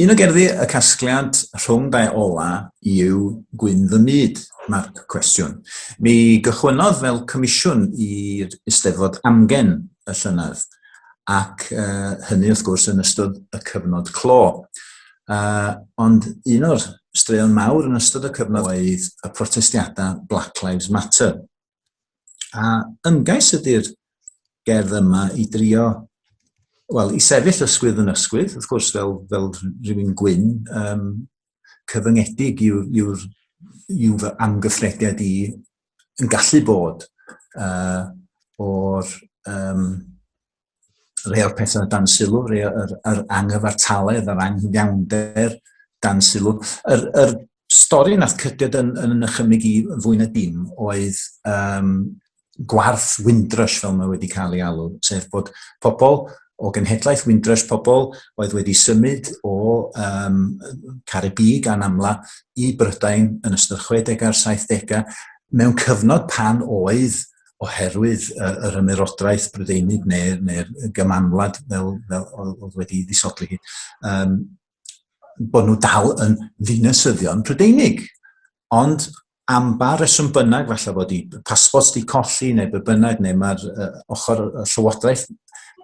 Un o gerddi y casgliad rhwng dau ola yw Gwyn fy myd, marc cwestiwn. Mi gychwynnodd fel comisiwn i'r Eisteddfod amgen y llynedd, ac uh, hynny wrth gwrs yn ystod y cyfnod clo. Uh, ond un o'r straeon mawr yn ystod y cyfnod oedd y protestiadau Black Lives Matter. A ymgais ydy'r gerdd yma i drio, wel, i sefyll ysgwydd yn ysgwydd, wrth gwrs, fel, fel rhywun gwyn, um, cyfyngedig yw'r yw, yw fy amgyffrediad i yn gallu bod uh, o'r um, rhai o'r pethau dan sylw, rhai o'r yr anghyfartaledd, yr anghyfiawnder dan sylw. Yr, yr stori nath cydiad yn, yn ychymig i fwy na dim oedd um, gwarth Windrush fel mae wedi cael ei alw, sef bod pobl o genhedlaeth Windrush, pobl oedd wedi symud o um, Caribi gan amla i Brydain yn ystod 60 a'r 70au, mewn cyfnod pan oedd oherwydd uh, yr ymerodraeth Brydeinig neu'r neu, neu gymanwlad fel, fel oedd wedi ddisodli hi, um, bod nhw dal yn ddinasyddion Prydeinig. Ond am ba reswm bynnag, falle bod i pasbos di colli neu be bynnag, neu mae'r uh, ochr y llywodraeth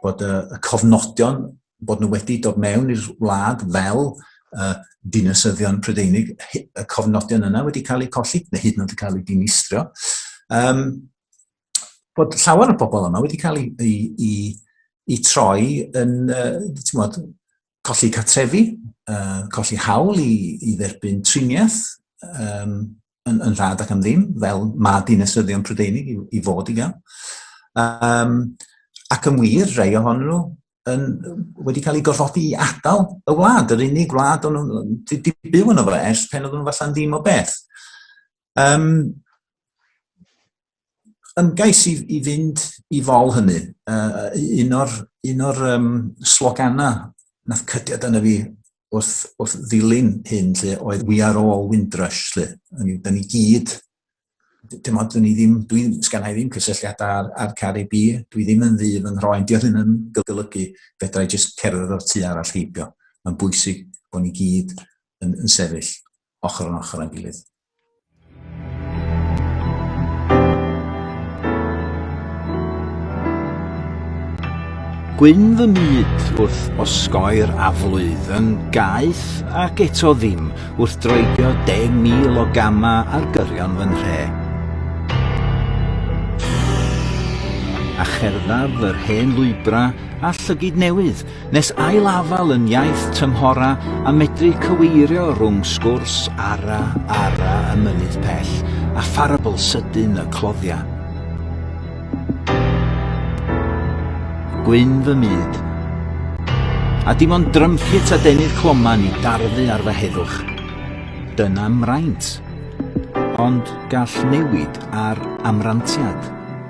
bod y, y cofnodion bod nhw wedi dod mewn i'r wlad fel uh, dinasyddion Prydeinig, y cofnodion yna wedi cael eu colli, neu hyd yn oed wedi cael eu dinistrio. Um, bod llawer o bobl yma wedi cael eu, eu, eu troi yn, uh, modd, colli catrefi, uh, colli hawl i, i dderbyn triniaeth, um, yn, yn rhad ac am ddim, fel mae dinasyddion Prydeinig i, i fod i gael. Um, ac yn wir, rei ohonyn nhw yn, wedi cael ei gorfodi i adael y wlad, yr unig wlad o'n nhw'n byw yn fo ers pen oedden nhw falle'n ddim o beth. Um, ymgais i, i fynd i fol hynny. Uh, un o'r, un o'r um, sloganau nath cydiad yna fi wrth, wrth ddilyn hyn lle oedd We are all Windrush lle. Ni, da ni gyd, dim ond ni ddim, dwi sgan i ddim cysylltiadau ar, ar Carib i, dwi ddim yn ddydd yn rhoi'n diolch yn yn golygu fedra i jyst cerdded o'r tu arall heibio. Mae'n bwysig bod ni gyd yn, yn sefyll. ochr yn ochr â'n gilydd. Gwyn fy myd wrth osgoi'r aflwydd yn gaeth ac eto ddim wrth droedio 10,000 o gama ar gyrion fy nhre. A cherddaf yr hen lwybra a llygid newydd Nes ail-afael yn iaith tymhora a medru cyweirio rhwng sgwrs ara ara y mynydd pell a pharabl sydyn y cloddiau. Gwyn fy myd. A dim ond drympit a denydd cloman i darfu ar fy heddwch. Dyna mraint. Ond gall newid ar amrantiad.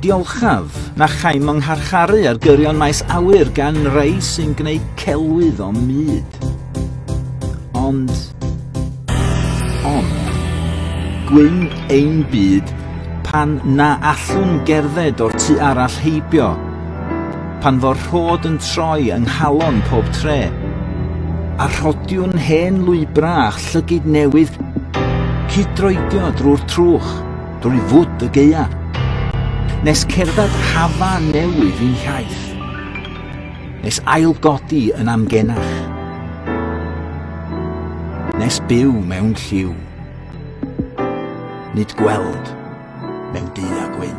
Diolchaf, na chaem yng ngharcharu ar gyrion maes awyr gan rai sy'n gwneud celwydd o myd. Ond... Ond... Gwyn ein byd pan na allwn gerdded o'r tu arall heibio, pan fo'r rhod yn troi yng nghalon pob tre, a rhodiwn hen lwybrau a llygid newydd cydroedio drwy'r trwch. drwy fwd y geia, nes cerdded hafa newydd i'n hiaith, nes ailgodi yn amgenach, nes byw mewn lliw, nid gweld mewn du a gwyn.